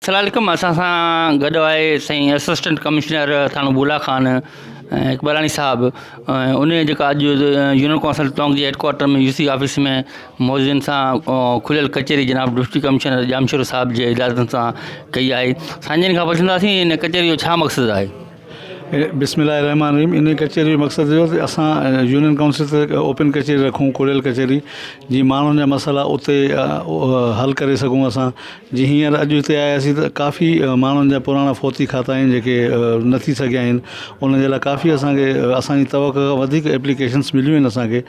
السلام عليڪم اسان سان گڏ آهي سائين اسسٽنٽ ڪمشنر ٿاڻو بولا خان اقبالاڻي صاحب ۽ ان جي جيڪا اڄ يونين ڪونسل ٽونڪ جي head quarter ۾ U C office ۾ موجودين سان کليل ڪچهري جناب ڊپٽي ڪمشنر ڄامشورو صاحب جي اجازت سان ڪئي آهي سائين جن کان پڇنداسين ان ڪچهري جو ڇا مقصد آهي بسم الله الرحمٰن الرحيم انهي ڪچهري جو مقصد اهو ته اسان يونين ڪائونسل تي هڪ اوپن ڪچهري رکون کليل ڪچهري جي ماڻهن جا مسئلا اتي حل ڪري سگهون اسان جي هينئر اڄ هتي آياسين ته ڪافي ماڻهن جا پراڻا فوتي کاتا آهن جيڪي نه ٿي سگهيا آهن انهن جي لاء ڪافي اسانکي اسانجي توقع کان وڌيڪ ايپليڪيشنس مليون آهن اسانکي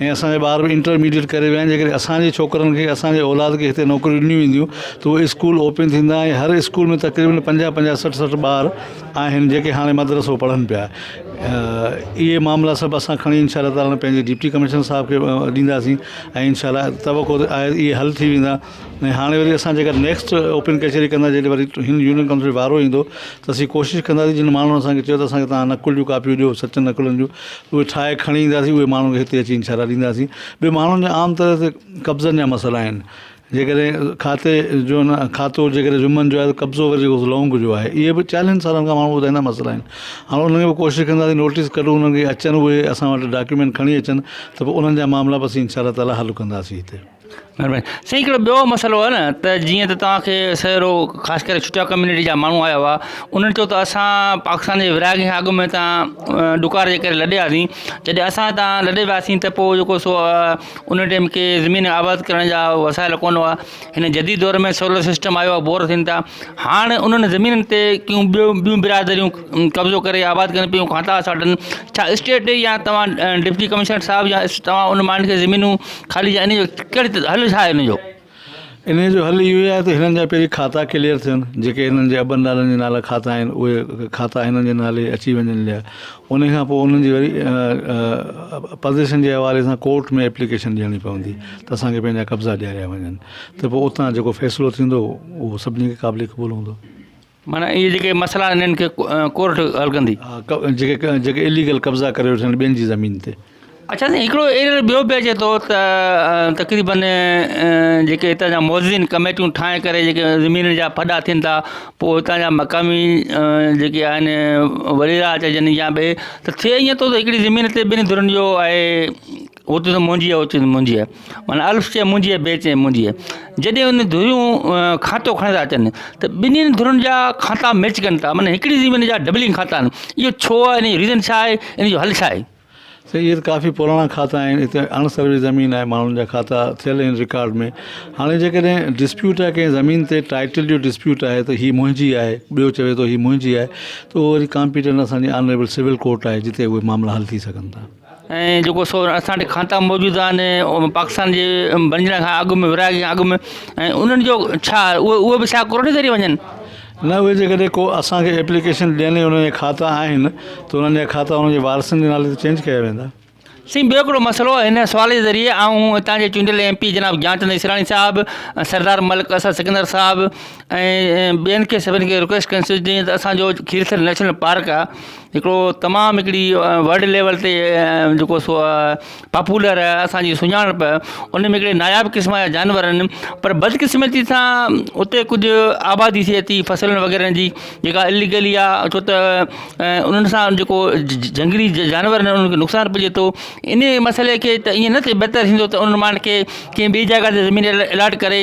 ۽ اسان جا ٻار به انٽرميڊيٽ ڪري ويا آهن جيڪڏهن اسان جي ڇوڪرن کي اسان جي اولاد کي هتي نوڪريون ڏنيون وينديون ته اهي اسڪول اوپن ٿيندا ۽ هر اسڪول ۾ تقريبن پنجاهه پنجاهه سٺ سٺ ٻار آهن جيڪي هاڻي مدرسو پڙهن پيا اهي معاملا سڀ اسان کڻي انشاء الله تعالٰي پنهنجي ڊپٽي ڪمشنر صاحب کي ڏينداسين ۽ انشاء الله توقع آهي اهي حل ٿي ويندا ۽ هاڻي وري اسان جيڪا نيڪسٽ اوپن ڪچهري ڪندا جڏهن وري هن يونين ڪائونسل جو وارو ايندو ته اسين ڪوشش ڪنداسين جن ماڻهن اسان کي چيو ته اسان کي تهان نقل جون ڪاپيون ڏيو سچن نقلن جون اهي ٺاهي کڻي اينداسين اهي ماڻهن کي هتي اچي انشاء الله ڏينداسين ٻيو ماڻهن جا عام طرح تي قبضن جا مسئلا آهن جيڪڏهن کاتي جو نه کاتو جيڪڏهن ويمن جو آهي قبضو وري جيڪو لونگ جو آهي اهي به چاليهن سالن کان ماڻهو ٻڌائيندا مسئلا آهن هاڻ انهن کي ڪوشش ڪنداسين نوٽيس ڪڍون انهن کي اچن اهي اسان وٽ ڊاڪيومينٽ کڻي اچن ته پوء انهن جا معاملا به اسين انشاء الله تعالٰي حل ڪنداسين هتي سائين هڪڙو ٻيو مسئلو آهي نه ته جيئن ته توهان کي سهرو خاص ڪري ڇٽا ڪميونٽي جا ماڻهو آيا هئا انهن چيو ته اسان پاڪستان جي ورهاڱي کان اڳ ۾ تان ڏڪار جي ڪري لڏي آياسين جڏهن اسان تان لڏي وياسين ته پوء جيڪو سو ان ٽيم کي زمين آباد ڪرڻ جا وسائل ڪونه هئا هن جديد دور ۾ سولر سسٽم آيو آهي بور ٿين ٿا هاڻ انهن زمينن تي ڪيون ٻيون ٻيون برادريون قبضو ڪري آباد ڪن پيون کانتا اساٽن ڇا اسٽيٽ يا توهان ڊپٽي ڪمشنر صاحب يا توهان ان ماڻهن کي زمينون خالي ڪيا ان جو ڪهڙي حل ڇا آهي ان جو ان جو حل اهو آهي ته هنن جا پهرين کاتا ڪليئر ٿين جيڪي هنن جي ابن ڏاڏن جي نالا کاتا آهن اهي کاتا هنن جي نالي اچي وڃن جا ان کان پوء انهن جي وري پرديسن جي حوالي سان ڪورٽ ۾ ايپليڪيشن ڏيڻي پوندي ته اسان کي پنهنجا قبضا ڏياريا وڃن ته پوء اتان جيڪو فيصلو ٿيندو اهو سڀني کي قابل قبول هوندو معنيٰ اهي جيڪي مسئلا آهن انهن کي ڪورٽ حل ڪندي. ها جيڪي اليگل قبضا ڪري ويٺا آهن ٻين جي زمين تي. اڇا سائين هڪڙو ايرر ٻيو به اچي ٿو ته تقريبن جيڪي هتان جا موزين ڪميٽيون ٺاهي ڪري جيڪي زمينن جا ڦڏا ٿين ٿا پوء هتان جا مقامي جيڪي آهن وڏيرا چئجن يا ٻئي ته ٿئي ائين ٿو ته هڪڙي زمين تي ٻنهي ڌرين جو آهي اوتي ته مونجهي آهي اوتي ته مونجهي آهي معنيٰ الف چئي مونجهي آهي بي چئي مونجهي آهي جڏهن ان ڌريون کاتو کڻي ٿا اچن ته ٻنهي ڌرين جا کاتا ميچ ڪن ٿا معنيٰ هڪڙي زمين جا ڊبلنگ کاتا آهن اهو ڇو آهي ان جو ريزن ڇاهي ان جو حل ڇاهي سائين اهي ته ڪافي پراڻا کاتا آهن هتي اڻ سروي زمين آهي ماڻهن جا کاتا ٿيل آهن رڪارڊ ۾ هاڻي جيڪڏهن ڊسپيوٽ آهي ڪنهن زمين تي ٽائيٽل جو ڊسپيوٽ آهي ته هي مونجهي آهي ٻيو چوي ٿو هي مونجهي آهي ته اهو وري ڪامپيٽنٽ اسان جي آنريبل سول ڪورٽ آهي جتي اهي معاملا حل ٿي سگهن ٿا ۽ جيڪو سو اسان وٽ کاتا موجود آهن پاڪستان جي بنجڻ کان اڳ م ورهاڱي کان اڳ م ۽ انهن جو ڇا اهي به ڇا ڪورٽ ذريعي وڃن. نه اهي جيڪڏهن ڪو اسان کي ايپليڪيشن ڏين ۽ انهن جا کاتا آهن ته انهن جا کاتا انهن جي وارثن جي نالي تي چينج ڪيا ويندا. سائين ٻيو هڪڙو مسئلو هن سوال جي ذريعي آئون هتان جي چونڊيل ايم پي جناب گيان چند اسراڻي صاحب سردار ملڪ اسد سڪندر صاحب ۽ ٻين کي سڀن کي رڪويسٽ ڪندس جيئن ته اسان جو کير ٿر نيشنل پارڪ آهي هڪڙو تمام هڪڙي ورلڊ ليول تي جيڪو سو پاپولر اسانجي سڃاڻپ ان ۾ هڪڙي ناياب قسم جا جانور آهن پر بدقسمتي سان اتي ڪجهه آبادي ٿئي ٿي فصلن وغيره جي جيڪا اليگلي آهي ڇو ته انهن سان جيڪو جهنگلي جانور آهن انهن کي نقصان پهچي ٿو انهي مسئلي کي ته ائين نه ٿئي بهتر ٿيندو ته انهن ماڻهن کي ڪنهن ٻي جاء تي زمين الاٽ ڪري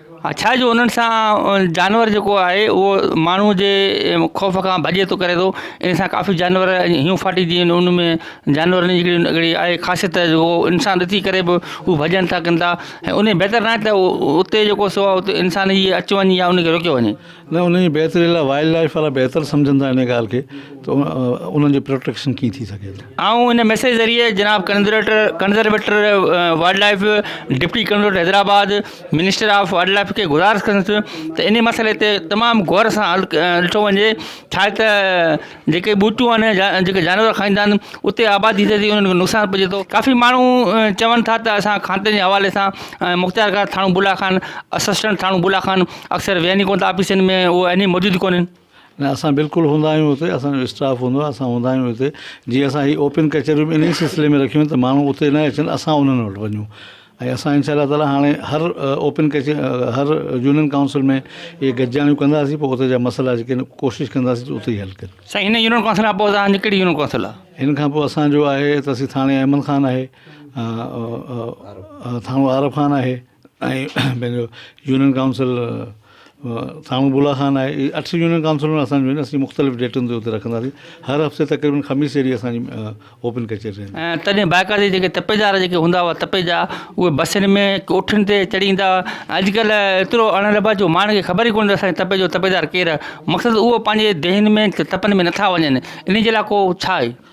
ڇا جو انهن سان جانور جيڪو آهي اهو ماڻهو جي خوف کان ڀڄي ٿو ڪري ٿو ان سان ڪافي جانور هيون ڦاٽي جي ويندو ان ۾ جانور جي هڪڙي آهي خاصيت جو انسان ڏسي ڪري به هو ڀڄن ٿا ڪندا ۽ ان بهتر نه آهي ته اتي جيڪو سو انسان جي اچ وڃ يا ان کي روڪيو وڃي نه انهن جي بهتري لاء وائلڊ لائيف وارا بهتر سمجهن ٿا انهيء ڳالهه کي ته انهن جي پروٽيڪشن ڪيئن ٿي سگهي ٿي. آئون ان ميسيج ذريعي جناب conservator conservator wildlife, deputy conservator Hyderabad, minister of wildlife کي گذارش ڪندس ته انهي مسئلي تي تمام غور سان ڏٺو وڃي ڇا هي ته جيڪي ٻوٽيون آهن يا جيڪي جانور کائيندا آهن اتي آبادي ٿئي ٿي انهن کي نقصان پهچي ٿو ڪافي ماڻهو چون ٿا ته اسان کاتي جي حوالي سان مختيار ڪار ٿاڻو بولا خان اسسٽنٽ ٿاڻو بولا خان اڪثر ويهن ئي ڪونه ٿا آفيسن ۾ هو اين اي موجود ئي ڪونهن نه اسان بلڪل هوندا آهيون اتي اسانجو اسٽاف هوندو آهي اسان هوندا آهيون اتي جي اسان هي اوپن ڪچهريون به انهي سلسلي ۾ رکيون آهن ته ماڻهو اتي نه اچن اسان انهن وٽ وڃون ۽ اسان انشاء الله تعاليٰ هاڻي هر اوپن ڪچهري هر يونين ڪائونسل ۾ اهي گڏجاڻيون ڪنداسين پوء اتي جا مسئلا جيڪي آهن ڪوشش ڪنداسين جو اتي ئي حل ڪريون. سائين هن يونين ڪائونسل کان پوء اسان جي ڪهڙي يونين ڪائونسل آهي؟ هن کان پوء اسان جو آهي ته سي ٿاڻي احمد خان آهي ٿاڻو عارف خان آهي ۽ پنهنجو يونين ڪائونسل سامهون بلا خان آهي اهي اٺ يونين ڪائونسلر اسان جون آهن اسين مختلف ڊيٽن تي اتي رکنداسين هر هفتي تقريبن خميس جي ڏينهن اسانجي اوپن ڪچهري رهندي آهي. ۽ تڏهن بائڪار جي جيڪي تپيدار جيڪي هوندا هئا تپيجا اهي بسين ۾ ڪوٺين تي چڙهي ايندا هئا اڄڪلهه ايترو اڻ رٻ آهي جو ماڻهن کي خبر ئي ڪونهي ته اسانجي تپي جو تپيدار ڪير آهي مقصد اهو پنهنجي ديهن ۾ تپن ۾ نٿا وڃن انهي جي لاء ڪو ڇا